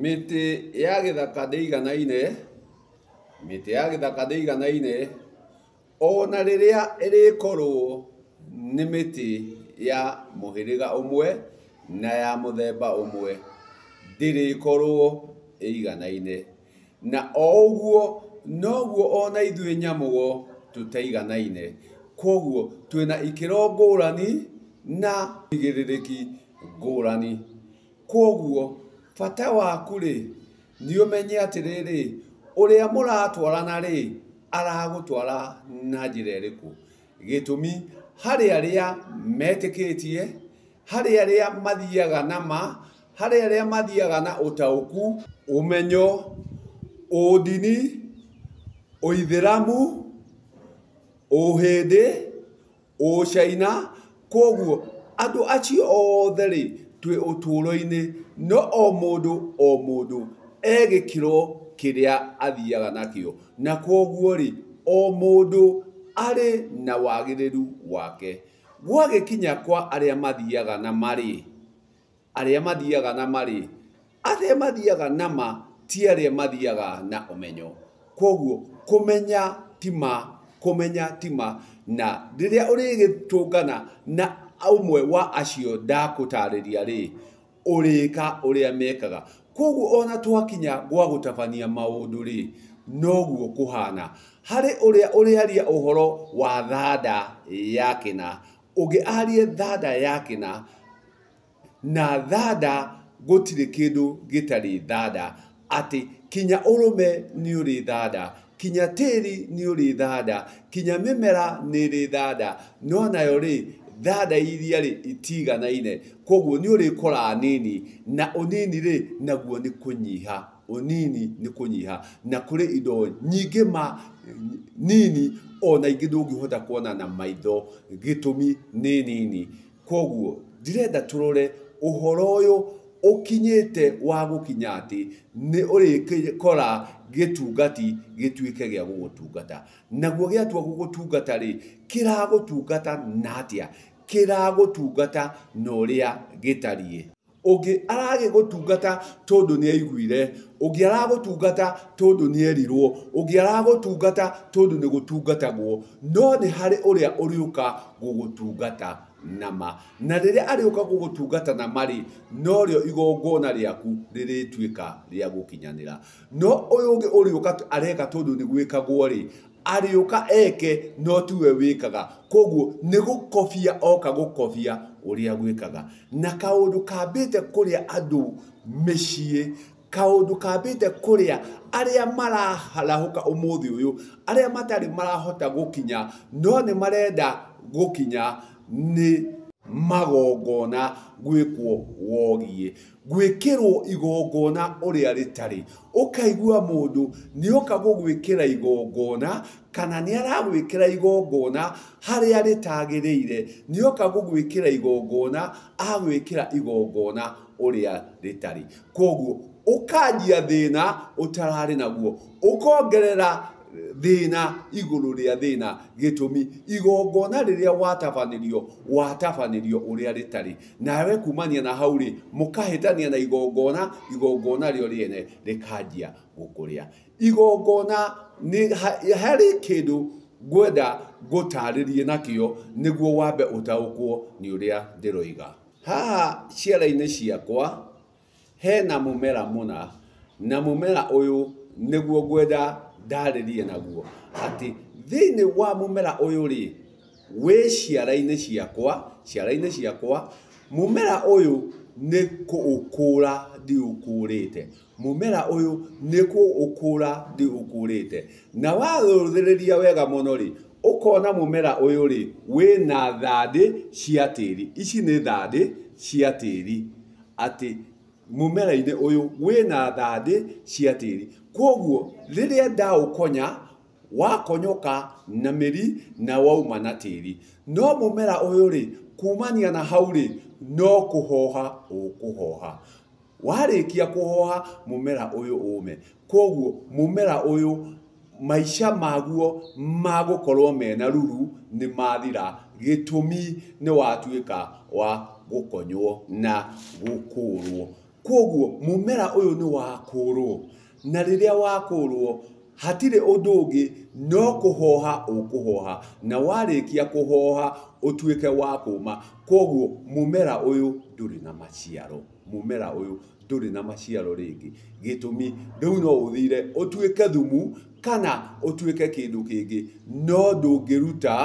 Mĩtĩ ya gĩthaka ndĩiganaine, mĩtĩ ya gĩthaka ndĩiganaine, ona rĩrĩa ĩrĩkorwo nĩ mĩtĩ ya mũhĩrĩga ũmwe na ya mũthemba ũmwe, ndĩrĩkorwo ĩiganaine. Na o ũguo noguo ona ithuĩ nyamũ-o tũtaiganaine. Kwoguo twĩna ikĩro ngũrani na ũigĩrĩrĩki ngũrani. Kwoguo, bata waku-rĩ, nĩ ũmenye atĩrĩrĩ, ũrĩa mũratwarana-rĩ, aragũtwara na njĩra ĩrĩkũ. Gĩtũmi, harĩ arĩa metĩkĩtie, harĩ arĩa mathiaga na ma, harĩ arĩa mathiaga na ũtaũku, ũmenyo, ũndini, ũithĩramu, ũhĩndĩ, Ũcaina, kwoguo andũ acio othe-rĩ, twĩ ũtũũro-inĩ, no o mũndũ o mũndũ e gĩkĩro kĩrĩa athiaga nakĩo, na kwoguo-rĩ, o mũndũ arĩ na wagĩrĩru wake. Gwagĩkinya kwa arĩa mathiaga na marĩ. arĩa mathiaga na ma-rĩ, arĩa mathiaga na ma ti arĩa mathiaga na ũmenyo. Kwoguo kũmenya ti ma, kũmenya ti ma. Na rĩrĩa ũrĩgĩtũngana na ũmwe wa acio ndagũtarĩria-rĩ, ũrĩka ũrĩa mekaga. Kwoguo o na twakinya gwa gũtabania maũndũ-rĩ, noguo kũhana. Harĩ ũrĩa ũrĩaria ũhoro wa thanda ya kĩna, ũngĩ arie thanda ya kĩna. na thanda gũtirĩ kĩndũ gĩtarĩ thanda, atĩ kinya ũrũme nĩ ũrĩ thanda, kinya tĩri nĩ ũrĩ thanda, kinya mĩmera nĩ ĩrĩ thanda, no nayo rĩ, thanda iria rĩ, itiiganaine. Kwoguo nĩ ũrĩkora nini, na ũnini rĩ, naguo nĩ kũnyiha, ũnini nĩ kũnyiha. Na kũrĩ indo nyingĩ ma nini o na ingĩ ndũngĩhota kuona na maitho gĩtũmi nĩ nini. Kwoguo ndĩrenda tũrore ũhoro ũyũ ũkinyĩte wa gũkinya atĩ nĩ ũrĩkora gĩtungati gĩtuĩke gĩa gũgũtungata. Naguo gĩatua gũgũtungata rĩ, kĩragũtungata na atĩa? Kĩragũtungata na ũrĩa gĩtariĩ. Ũngĩ aragĩgũtungata tondũ nĩ aiguire, ũngĩ aragũtungata tondũ nĩ erirwo, ũngĩ aragũtungata tondũ nĩ gũtungatagwo, no nĩ harĩ ũrĩa ũrĩũka gũgũtungata na ma. Na rĩrĩa arĩũka gũgũtungata na ma-rĩ, norĩo igongona rĩaku rĩrĩtuĩka rĩa gũkinyanĩra. No ũyũ ũngĩ ũrĩũka areka tondũ nĩ gwĩkagwo-rĩ, Arĩũka eke no tiwe wĩkaga kwoguo nĩ gũkobia oka gũkobia ũrĩa gwĩkaga. Na kaũndũ kambĩte kũrĩa andũ mĩciĩ, kaũndũ kambĩte kũrĩa arĩa mararahũka ũmũthĩ ũyũ, arĩa matarĩ marahota gũkinya no nĩ marenda gũkinya nĩ magongona gwĩkwo wogiĩ. gwĩkĩrwo igongona ũrĩa rĩtarĩ. Ũkaigua mũndũ nĩoka gũgwĩkĩra igongona kana nĩ aragwĩkĩra igongona harĩa rĩtagĩrĩire, nĩoka gũgwĩkĩra igongona agwĩkĩra igongona ũrĩa rĩtarĩ. Koguo ũkanjia thĩna ũtararĩ naguo, ũkongerera thĩna igũrũ rĩa thĩna, gĩtũmi igongona rĩrĩa watabanĩrio, watabanĩrio ũrĩa rĩtarĩ. Nawe kumania na hau-rĩ, mũkahĩtania na igongona, igongona rĩo rĩene rĩkanjia gũkũrĩa. Igongona nĩ harĩ kĩndũ ngwenda ngũtarĩrie nakĩo nĩguo wambe ũtaũkwo nĩ ũrĩa ndĩroiga. Haha ciara-inĩ ciakwa Hena mũmera mũna, na mũmera ũyũ nĩguo ngwenda ndarĩrie naguo, atĩ thĩinĩ wa mũmera ũyũ rĩ, wĩ ciara-inĩ ciakwa, ciara-inĩ ciakwa, mũmera ũyũ nĩ kũũkũra ndĩũkũrĩte, mũmera ũyũ nĩ kũũkũra ndĩũkũrĩte. Na warũthĩrĩria wega mũno rĩ, ũkona mũmera ũyũ rĩ, wĩna thandĩ cia tĩri, ici nĩ thandĩ cia tĩri. atĩ mũmera-inĩ ũyũ wĩna thandĩ cia tĩri. Kwoguo rĩrĩa ndaũkonya, wakonyoka na mĩri na wauma na tĩri. No mũmera ũyũ rĩ, kumania na hau rĩ, no kũhoha ũkũhoha. Warĩkia kũhoha mũmera ũyũ ũme. Kwoguo mũmera ũyũ maica maguo magũkorwo mena ruru nĩ mathira gĩtũmi nĩ watuĩka wa gũkonywo na gũkũrwo. Kwoguo mũmera ũyũ nĩ wakũrwo na rĩrĩa wakũrwo hatirĩ ũndũ ũngĩ no kũhoha ũkũhoha na warĩkia kũhoha ũtuĩke wa kũma. Kwoguo mũmera ũyũ ndũrĩ na maciaro, mũmera ũyũ ndũrĩ na maciaro rĩngĩ. Gĩtũmi rĩu no ũthire ũtuĩke thumu kana ũtuĩke kĩndũ kĩngĩ, no ndũngĩruta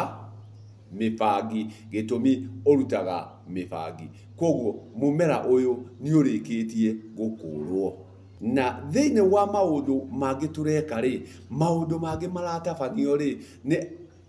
mĩbangi. Gĩtũmi ũrutaga mĩbangi. Kwoguo mũmera ũyũ nĩ ũrĩkĩtie gũkũrwo. Na thĩinĩ wa maũndũ mangĩ tũreka rĩ, maũndũ mangĩ maratabanio rĩ, nĩ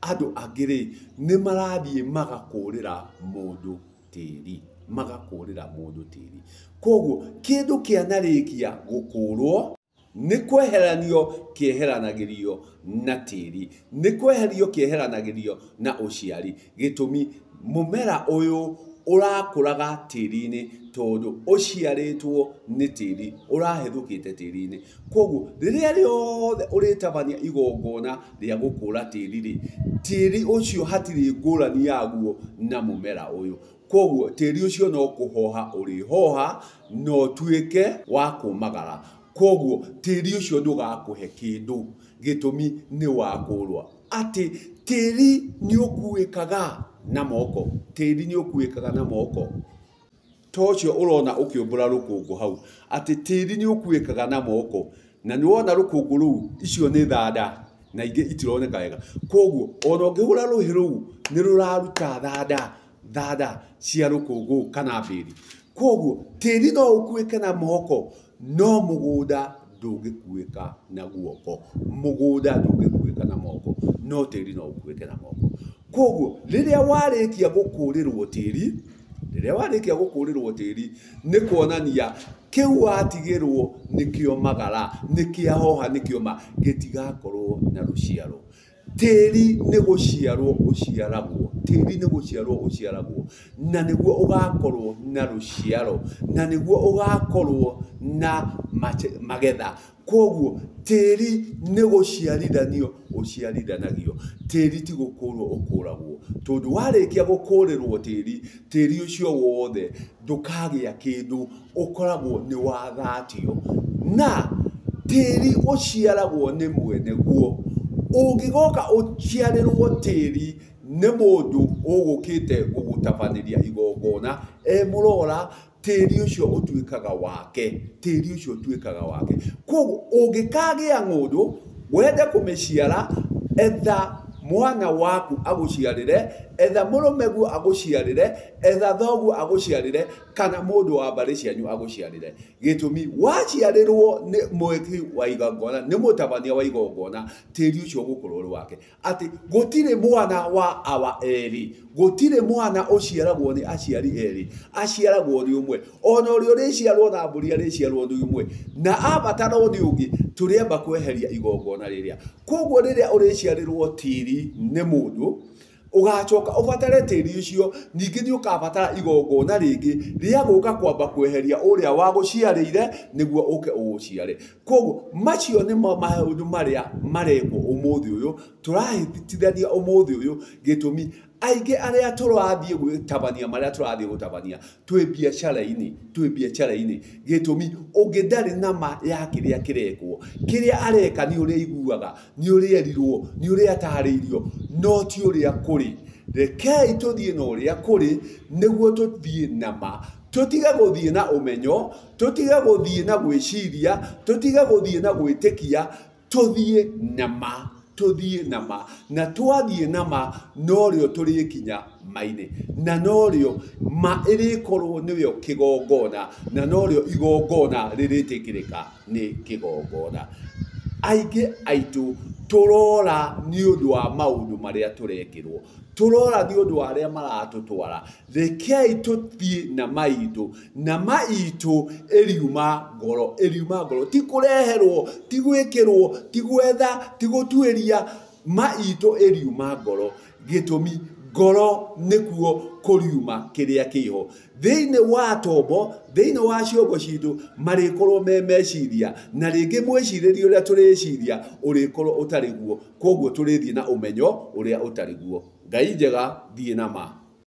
andũ angĩ rĩ, nĩ marathiĩ magakũrĩra mũndũ. tĩri, magakũũrĩra mũndũ tĩri. Kwoguo kĩndũ kĩanarĩkia gũkũũrwo, nĩ kweheranio kĩeheranagĩrio na tĩri, nĩ kweherio kĩeheranagĩrio na ũciari. Gĩtũmi, mũmera ũyũ ũrakũraga tĩri-inĩ tondũ ũciarĩtwo nĩ tĩri, ũrahĩthũkĩte tĩri-inĩ. Kwoguo rĩrĩa rĩothe ũrĩtabania igongona rĩa gũkũra tĩri-rĩ, tĩri ũcio hatirĩ ngũrani yaguo na mũmera ũyũ. Kuoguo tĩri ũcio no kũhoha ũrĩhoha na ũtuĩke wa kũmagara. Kuoguo tĩri ũcio ndũgakũhe kĩndũ gĩtũmi nĩwakũrũa. Atĩ tĩri nĩũkuĩkaga na moko, tĩri nĩũkuĩkaga na moko. ta ũcio ũrona ũkĩũmbũra rũkũngũ hau, atĩ tĩri nĩ ũkuĩkaga na moko, na nĩ wona rũkũngũ rũu, icio nĩ thanda, na ingĩ itironeka wega. Kwoguo, ona ũngĩhũra rũhĩ rũu, nĩ rũraruta thanda, thanda cia rũkũngũ kana mbĩri. Kwoguo, tĩri no ũkuĩke na moko, No mũgũnda ndũngĩkuĩka na guoko, mũgũnda ndũngĩkuĩka na moko, no tĩri no ũkuĩke na moko. Kwoguo rĩrĩa warĩkia gũkũrĩrwo tĩri, rĩrĩa warĩkia gũkũrĩrwo tĩri nĩ kuonania kĩu watigĩrwo nĩkĩo magara, nĩkĩahoha, nĩkĩoma, gĩtigakorwo na rũciaro. Tĩri nĩ gũciarũo ũciaragwo, tĩri nĩ gũciarũo ũciaragwo, na nĩguo ũgakorũo na rũciaro, na nĩguo ũgakorũo na magetha. Kwoguo tĩri nĩ gũciarithanio ũciarithanagio, tĩri ti gũkũrũo ũkũragwo. Tondũ warĩkia gũkũrĩrũo tĩri, tĩri ũcio wothe ndũkagĩa kĩndũ. ũkoragwo nĩ wathatio na tĩri ũciaragwo nĩ mwene guo. Ũngĩgoka ũciarĩrwo tĩri nĩ mũndũ ũgũkĩte gũgũtabanĩria igongona e mũrora, tĩri ũcio ũtuĩkaga wake, tĩri ũcio ũtuĩkaga wake. Kwoguo ũngĩkagĩa ng'ũndũ wende kũmĩciara, etha mwana waku agũciarĩre, etha mũrũme guo agũciarĩre, etha thoguo agũciarĩre. kana mũndũ wa mbarĩ cianyu agũciarĩre. Gĩtũmi, waciarĩrwo nĩ mwĩki wa igongona, nĩ mũtabania wa igongona, tĩri ũcio ũgũkorwo ũrĩ wake. Atĩ gũtirĩ mwana wa awa erĩ, gũtirĩ mwana ũciaragwo nĩ aciari erĩ, aciaragwo nĩ ũmwe. Ona ũrĩa ũrĩciarwo na mbũri arĩciarwo nĩ ũmwe, na abatarwo nĩ ũngĩ, tũrĩamba kweheria igongona rĩrĩa. Kũguo rĩrĩa ũrĩciarĩrwo tĩri nĩ mũndũ, Ũgaacoka ũbatare tĩri ũcio, ningĩ nĩ ũkaabatara igongona rĩngĩ rĩa gũka kwamba kweheria ũrĩa wagũciarĩire nĩguo ũke ũũciare. Kwoguo macio nĩmo maũndũ marĩa marekwo ũmũthĩ ũyũ, tũrahĩtithania ũmũthĩ ũyũ gĩtũmi aingĩ arĩa tũrathiĩ gũtabania marĩa tũrathiĩ gũtabania, twĩ mbiacara-inĩ, twĩ mbiacara-inĩ. Gĩtũmi, ũngĩ ndarĩ na ma ya kĩrĩa kĩrekwo. Kĩrĩa areka nĩ ũrĩa aiguaga, nĩ ũrĩa erirwo, nĩ ũrĩa atarĩirio, no ti ũrĩa kũrĩ. Rekei tũthiĩ na ũrĩa kũrĩ, nĩguo tũthiĩ na ma. Tũtige gũthiĩ na ũmenyo, tũtige gũthiĩ na gwĩciria, tũtige gũthiĩ na gwĩtĩkia, Tũthiĩ na ma, tũthiĩ na ma, na twathiĩ na ma norĩo tũrĩkinya mainĩ, na norĩo ma ĩrĩkorwo nĩrĩo kĩgongona, na norĩo igongona rĩrĩtĩkĩrĩka nĩ kĩgongona. Aingĩ aitũ tũrora nĩ ũndũ wa maũndũ marĩa tũrekĩrwo, tũrora nĩ ũndũ wa arĩa maratũtwara, rekei tũthiĩ na ma itũ. na ma itũ ĩriuma ngoro, ĩriuma ngoro, ti kũreherwo, ti gwĩkĩrwo, ti gwetha, ti gũtuĩria, ma itũ ĩriuma ngoro. Gĩtũmi ngoro nĩkuo kũriuma kĩrĩa kĩho. Thĩinĩ wa tombo, thĩinĩ wa ciongo citũ, marĩkorwo me meciria, na rĩngĩ mwĩcirĩrie ũrĩa tũrĩciria ũrĩkorwo ũtarĩ guo, kwoguo tũrĩthiĩ na ũmenyo ũrĩa ũtarĩ guo. Ngai njega, thiĩ na ma.